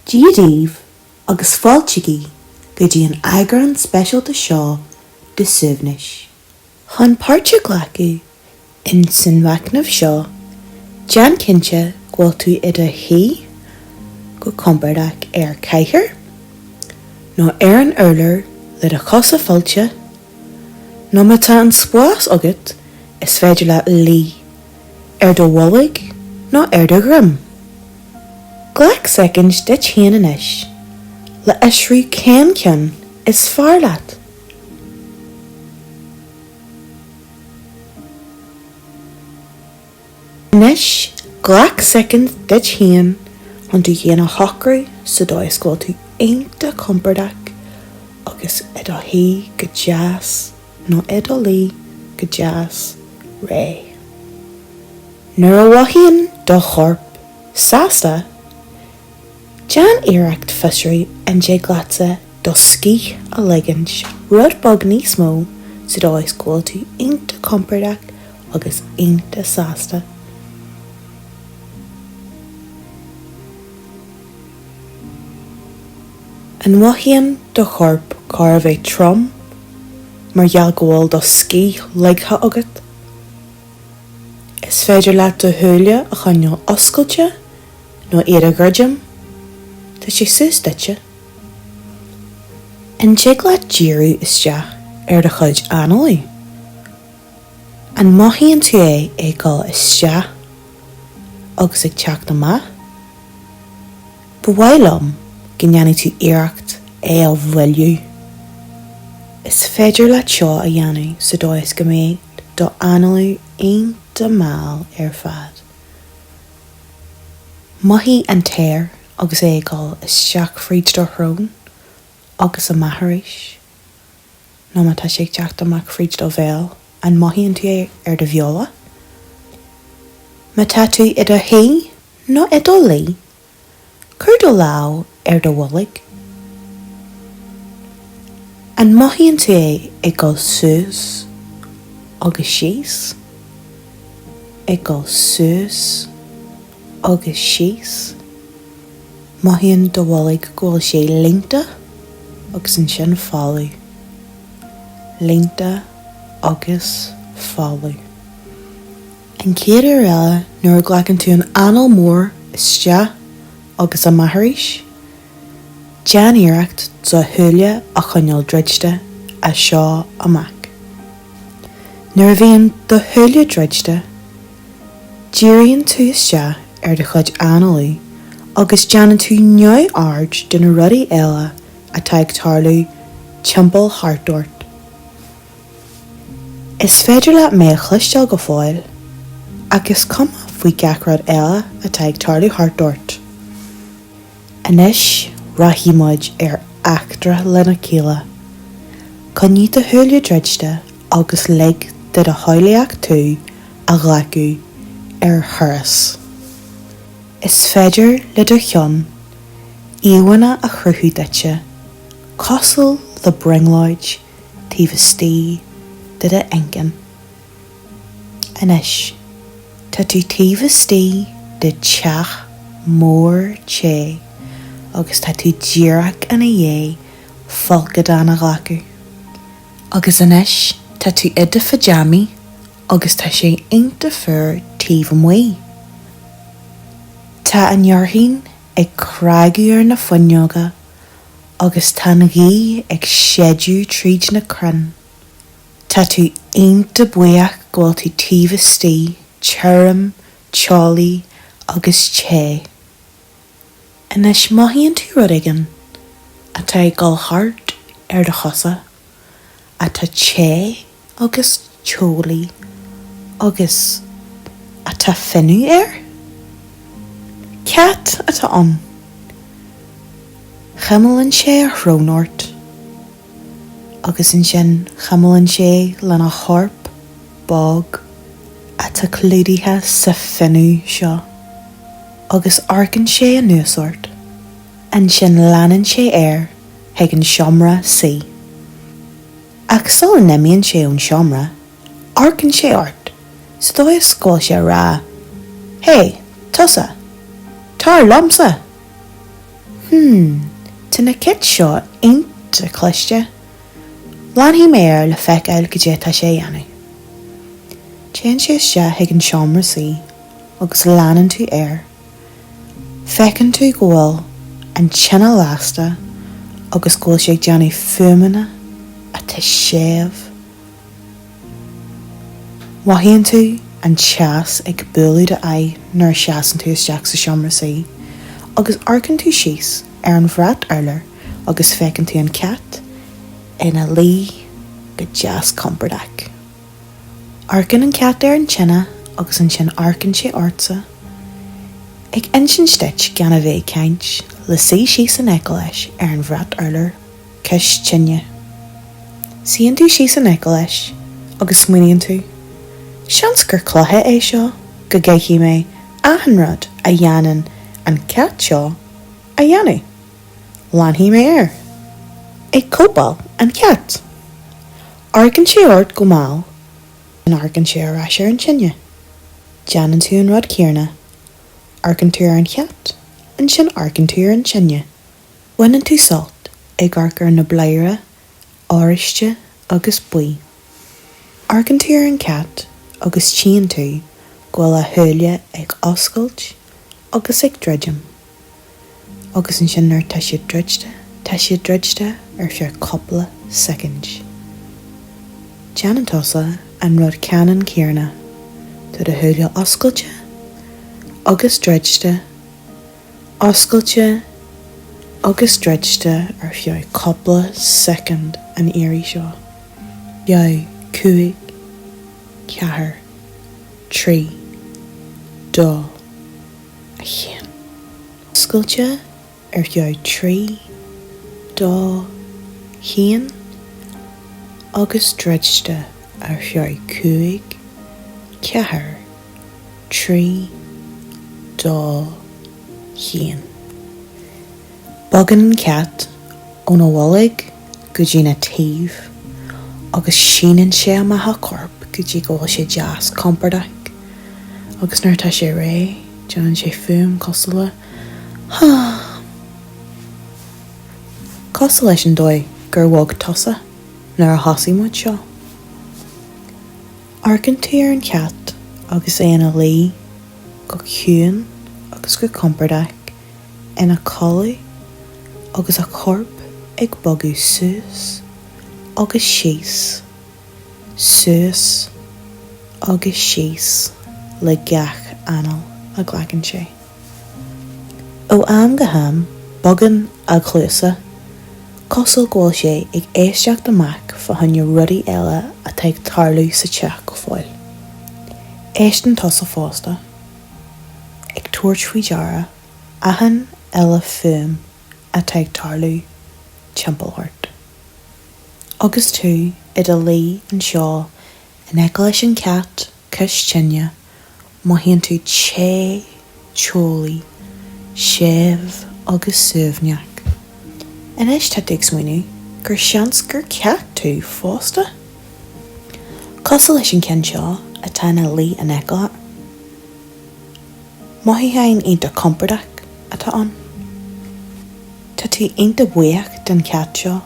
Dia daoibh, agus fáiltigí go dtí an eagrán speisialta seo de Suaimhneas. Chun páirt a ghlacadh in san mhachnamh seo, déan cinnte go bhfuil tú i do shuí go compordach ar chathaoir nó ar an urlár le do chosa fillte, nó má tá an spás agat, is féidir leat luí. ar do bholg nó ar do dhroim. Glac soicind duit féin anois le fiosrú cén ceann is fearr leat. Anois glac soicind duit féin chun tú féin a shocrú sa dóigh is go bhfuil tú iontach compordach agus i do shuí go deas. nó i do luí go deas réidh. Nuair a mhothaíonn do chorp sásta, déan iarracht fiosrú an dtig leatsa do scíth a leigint, rud beag níos mó sa dóigh is go bhfuil tú iontach compordach agus iontach sásta. An mothaíonn do chorp chóir a bheith trom mar gheall go bhfuil do scíth ligthe agat? Is féidir leat do shúile a choinneáil oscailte nó iad a dhruidim, tá sé suas duitse. An dtig leat díriú isteach ar do chuid análaí? An mothaíonn tú é ag dul isteach agus ag teacht amach? Ba mhaith liom go ndéanfaidh tú iarracht é a mhoilliú. Is féidir leat seo a dhéanamh sa dóigh is go mbeidh do análú iontach mall ar fad. Mothaigh an t-aer agus é ag dul isteach fríd do shrón agus amach arís. Nó má tá sé ag teacht amach fríd do bhéal, an mothaíonn tú é ar do bheola? Má tá tú i do shuí, Nó i do luí. Cuir do lámh ar do bholg. An mothaíonn tú é ag dul suas agus síos, ag dul suas agus síos? Mothaíonn do bholg go bhfuil sé líonta agus ansin folamh. Líonta agus folamh. An chéad uair eile nuair a ghlacann tú an anáil mhór isteach agus amach arís, déan iarracht do shúile a choinneáil druidte as seo amach. Nuair a bhíonn do shúile druidte, díríonn tú isteach ar do chuid análaí agus déanann tú neamhaird de na rudaí eile atá ag tarlú timpeall thart ort. Is féidir leat mé a chloisteáil go fóill, ach is cuma faoi gach rud eile atá ag tarlú thart ort. Anois rachaidh muid ar eachtra lena chéile. Coinnigh do shúile druidte agus lig do do shamhlaíocht tú a ghlacadh ar thuras. Is féidir le do cheann íomhánna a chruthú duitse, cosúil le brionglóid, taobh istigh de do inchinn. Anois, tá tú taobh istigh de teach mór te agus tá tú díreach ina dhiaidh folcadán a ghlacadh. Agus anois tá tú i do phajamaí agus tá sé iontach fuar taobh amuigh. Tá an fhearthainn ag cnagadh ar na fuinneoga agus tá an ghaoth ag séideadh tríd na crainn. Tá tú iontach buíoch go bhfuil tú taobh istigh, tirim, teolaí agus te. Anois mothaíonn tú rud éigin atá ag dul thart ar do chosa. atá te agus teolaí agus atá fionnadh air. Cat atá ann. Cuimlíonn sé a shrón ort agus ansin cuimlíonn sé lena chorp bog atá clúdaithe sa fionnadh seo agus amharcann sé anuas ort. Ansin leanann sé air. chuig an seomra suí. Ach sula n-imíonn sé ón seomra, amharcann sé ort, sa dóigh is go bhfuil sé a rá, Hé, tusa! Tar liomsa! Hm, tá na cait seo iontach cliste. Leanfaidh mé air le feiceáil cad é atá sé a dhéanamh. Téann sé isteach chuig an seomra suí agus leanann tú air. Feiceann tú go bhfuil an tine lasta agus go bhfuil sí ag déanamh fuaimeanna atá séimh. Mothaíonn tú an teas ag bualadh do aghaidh nuair a seasann tú isteach sa seomra suí agus amharcann tú síos ar an bhrat urláir agus feiceann tú an cat ina luí go deas compordach. Amharcann an cat ar an tine agus ansin amharcann sé ortsa, ag insint duit gan a bheith ag caint, le suí síos in aice leis ar an bhrat urláir, cois tine. Suíonn tú síos in aice leis agus smaoiníonn tú, 'Seans gur cluiche é seo go gcaithfidh mé achan rud a dhéanann an cat seo a dhéanamh. Leanfaidh mé air ag cóipeáil an chait. Amharcann sé ort go mall, ansin amharcann sé ar ais ar an tine. Déanann tú an rud céarna, amharcann tú ar an chat, ansin amharcann tú ar an tine. Baineann tú sult ag amharc ar na bladhaire oráiste agus buí. Amharcann tú ar an chat agus tchíonn tú go bhfuil a shúile ag oscailt agus ag druidim. Agus ansin nuair atá siad druidte, tá siad druidte ar feadh cupla soicind. Déanann tusa an rud ceannann céarna, tá do shúile oscailte agus druidte, oscailte agus druidte ar feadh cupla soicind an iarraidh seo. Ar feadh cúig. Ceathair. Trí. Dó. haon. Oscailte ar feadh trí dó haon agus druidte ar feadh cúig ceathair trí dó haon. Bogann an cat óna bholg. go dtí a thaobh agus síneann sé amach a chorp go dtí go bhfuil sé deas compordach agus nuair atá sé réidh déanann sé fuaim cosúil le hum cosúil leis an dóigh gur bhog tusa nuair a thosaigh muid seo. Amharcann tú ar an chat agus é ina luí go ciúin agus go compordach. ina chodladh agus a chorp ag bogadh suas agus síos, suas agus síos le gach anáil a ghlacann sé. Ó am go ham bogann a chluasa, cosúil go bhfuil sé ag éisteacht amach fá choinne rudaí eile atá ag tarlú sa teach go fóill. Éisteann tusa fosta. ag tabhairt faoi deara achan uile fuaim atá ag tarlú timpeall ort. Agus tú i do luí anseo in aice leis an chat cois tine, mothaíonn tú te, teolaí, séimh agus suaimhneach. Anois tá tú ag smaoineamh gur seans gur cat tú fosta? Cosúil leis an gceann seo atá ina luí in aice air, mothúcháin iontach compordach atá ann. Tá tú iontach buíoch den chat seo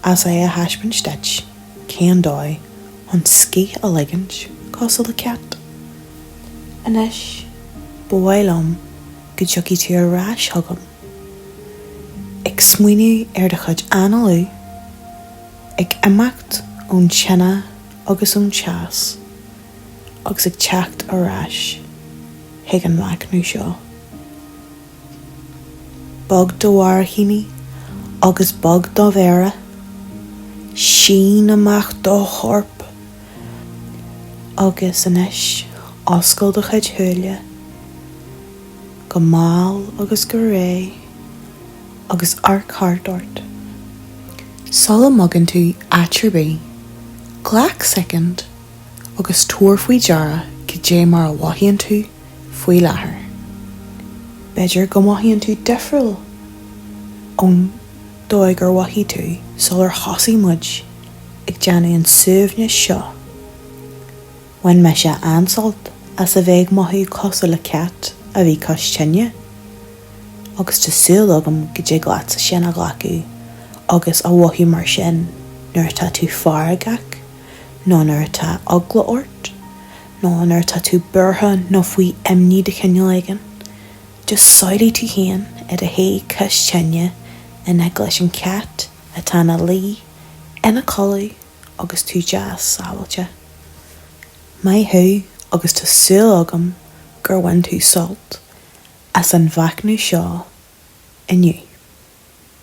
as é a thaispeáint duit, cén dóigh chun scíth a ligint cosúil le cat? Anois, ba mhaith liom go dtiocfaidh tú ar ais chugam ag smaoineamh ar do chuid analú, ag imeacht ón tine agus ón teas agus ag teacht ar ais chuig an machnamh seo bog do bharraicíní agus bog do mhéara, sín amach do chorp agus anois oscail do chuid shúile go mall agus go réidh. agus amharc thart ort. Sula mbogann tú áit ar bith, glac soicind agus tabhair faoi deara cad é mar a mhothaíonn tú faoi láthair. B'fhéidir go mothaíonn tú difriúil ón dóigh ar mhothaigh tú sular thosaigh muid ag déanamh an suaimhniú seo. Bhain mise an-sult as a bheith ag mothú cosúil le cat a bhí cois tine, agus tá súil agam go dtig leatsa sin a ghlacadh agus a mhothú mar sin nuair atá tú feargach nó nuair atá eagla ort nó nuair atá tú buartha nó faoi imní de chineál éigin. Just samhlaigh tú féin i do shuí cois tine in aice leis an chat atá ina luí ina codladh, agus tú deas sábháilte. Maith thú agus tá súil agam gur bhain tú sult as an mhachnamh seo inniu.